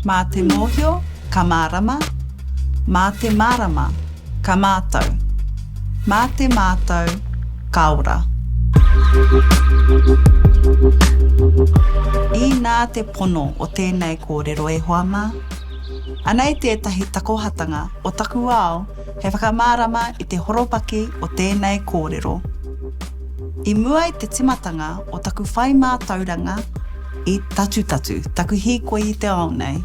Mā te mōhio, ka mārama, mā te mārama, ka mātau, mā te mātau, ka ora. Inā te pono o tēnei kōrero e hoa mā. Anei tētahi takohatanga o taku ao He whakamārama i te horopaki o tēnei kōrero. I mua i te timatanga o taku whai mātauranga i Tatutatu, taku hīkoi i te ao nei,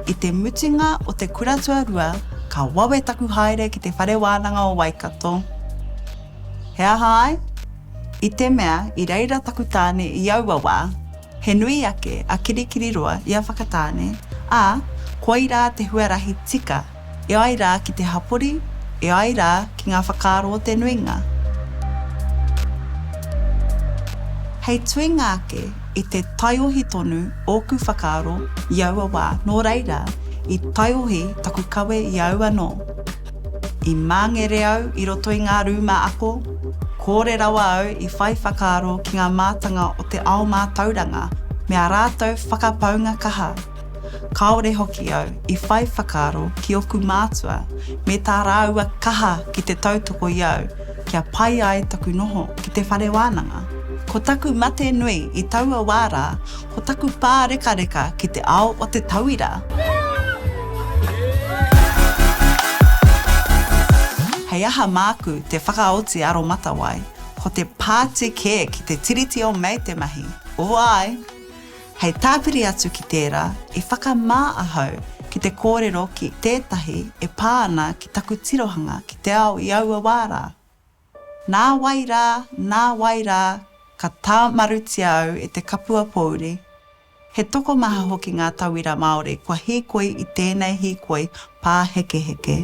i te mutunga o te kura tuarua ka wawe taku haere ki te Whare Wānanga o Waikato. He aha ai? I te mea i reira taku tāne i aua wā, he nui ake a Kirikiriroa i a Whakatāne, ā, koirā te huarahi tika E ai rā ki te hapori, e ai rā ki ngā whakaaro o te nuinga. Hei tuinga ake i te taiohi tonu ōku whakaaro i aua wā, nō reira, i taiohi taku kawe i au anō. I māngere au i roto i ngā rūma ako, kōre rawa au i whai whakaaro ki ngā mātanga o te ao mātauranga me ā rātou whakapaunga kaha. Kāore hoki au i whai whakaaro ki ōku mātua me tā rāua kaha ki te tautoko i au kia pai ai taku noho ki te whare wānanga. Ko taku mate nui i taua wā rā ko taku pārekareka ki te ao o te tauira! Hei aha māku te whakaoti aromatawai, ko te pāti kē ki te Tiriti o Mei te mahi, o āe! Hei tāpiri atu ki tērā, i whakamā ahau ki te kōrero ki tētahi e pā ana ki taku tirohanga ki te ao i aua wā rā. Nā wai rā, nā wai rā, ka tāmarutia au e te kapua pōuri. He tokomaha hoki ngā tauira Māori kua hīkoi i tēnei hīkoi pāhekeheke.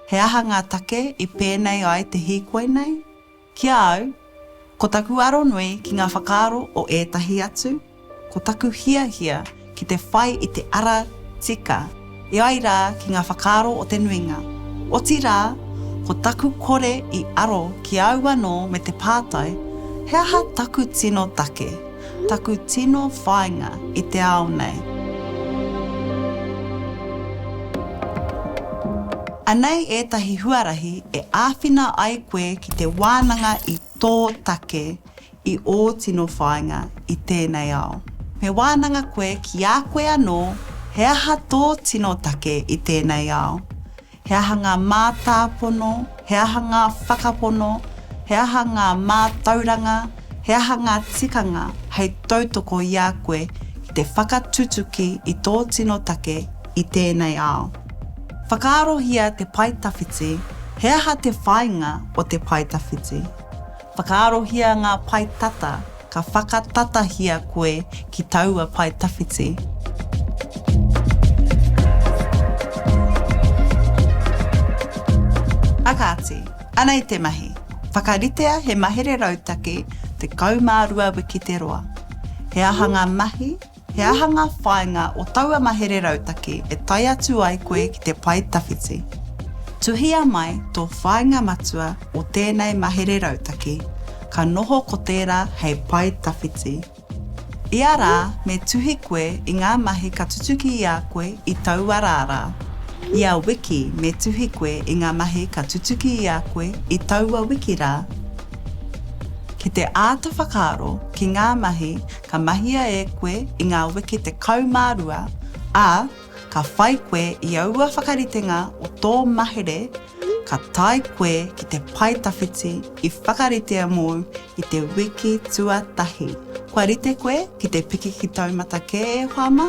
He aha ngā take i pēnei ai te hīkoi nei? Ki a au, ko taku aro nui ki ngā whakaaro o ētahi atu, ko taku hiahia ki te whai i te ara tika, e ai rā ki ngā whakaaro o te nuinga. Otirā, ko taku kore i aro ki au anō me te pātai, he aha taku tino take? Taku tino whainga i te ao nei. Anei ētahi huarahi e āwhina ai koe ki te wānanga i tō take i ō tino whāinga i tēnei ao. Me wānanga koe ki a koe anō he aha tō tino take i tēnei ao. He aha ngā mātāpono, he aha ngā whakapono, he aha ngā mātauranga, he aha ngā tikanga hei tautoko i a koe ki te whakatutuki i tō tino take i tēnei ao? Whakaarohia te paetawhiti, he aha te whāinga o te paetawhiti? Whakaarohia ngā pae tata, ka whakatatahia koe ki taua pae tawhiti. Whakaati, Anei te mahi. Whakaritea he mahere rautaki 12 wiki te roa. He aha ngā mahi He aha ngā whāinga o taua mahere rautaki e tae atu ai koe ki te pae tawhiti? Tuhia mai tō whāinga matua o tēnei mahere rautaki, ka noho ko tērā hei pae tawhiti. Ia rā me tuhi koe i ngā mahi ka tutuki i a koe i taua rā rā. Ia wiki me tuhi koe i ngā mahi ka tutuki i a koe i taua wiki rā. Ki te āta whakaaro ki ngā mahi ka mahia e koe i ngā wiki 12, ā, ka whai koe i aua whakaritenga o tō mahere ka tae koe ki te pae tawhiti i whakaritea mōu i te wiki tuatahi. Kua rite koe ki te piki ki taumata kē e Whāma?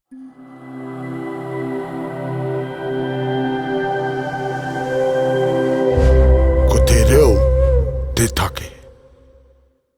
Ko te reo te take.